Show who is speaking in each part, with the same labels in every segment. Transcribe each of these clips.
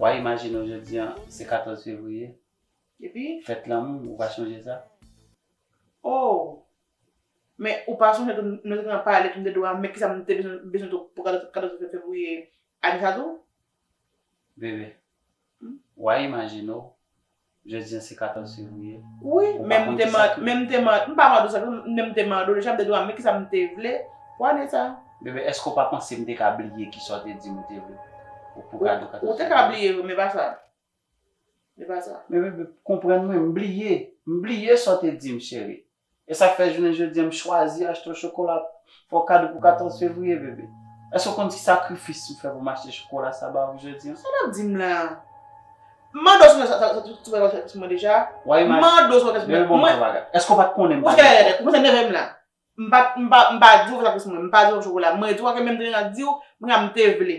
Speaker 1: Wa imajine w jodi an se 14 fevriye,
Speaker 2: fèt lanmou, ou va
Speaker 1: chonje sa? Oh!
Speaker 2: Men ou pa sonje tou nou te gentan pale tou de dwa men kisa m te bezwen tou pou 14 fevriye ane sa tou? Bebe,
Speaker 1: wa imajine w Jodi an se 14 fevriye. Wi, men m te
Speaker 2: mande, men m te mande, m pa mande w sa, men m te mande w deja, m te di w a men kisa m te vle, w a di sa. Bebe, èske w pa panse
Speaker 1: m te ka bliye kisa w te di m ou te vle pou kado 14 fevriye? Ou te ka bliye wi, men pa
Speaker 2: sa. Men pa sa. Men bebe, konprann
Speaker 1: mwen, m bliye. M bliye sa w te di m cheri. E sak fè jounen jodia m chwazi achte w chokola fè w kado pou 14 fevriye bebe? Èske w konn ki sakrifis m fè pou m achte chokola sa ba ou jodia? Sa wap di m la?
Speaker 2: M mande w si w konn sa tout bagay wap fè pou mwen deja? M mande w si w konn sa tout bagay wap
Speaker 1: fè pou mwen? Bebe bon
Speaker 2: m yon bagay. Èske w
Speaker 1: pat konnen m pa gen kòb? Ou koumanse nève m
Speaker 2: la. M pa di w fè sakrifis pou mwen, m pa di w fè chokola, mwen di w ankenn menm jan m di w m ka m te vle.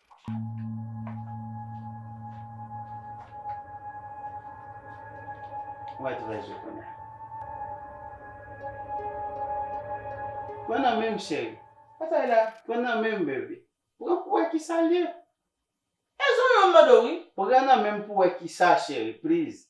Speaker 1: Mwen trè zo kounye a. Pran nan menm cheri. Batay la,
Speaker 2: pran nan menm bebe.
Speaker 1: Pran pou wè kisa l ye.
Speaker 2: E zo yo m mande w wi. Pran nan menm pou wè
Speaker 1: kisa cheri please.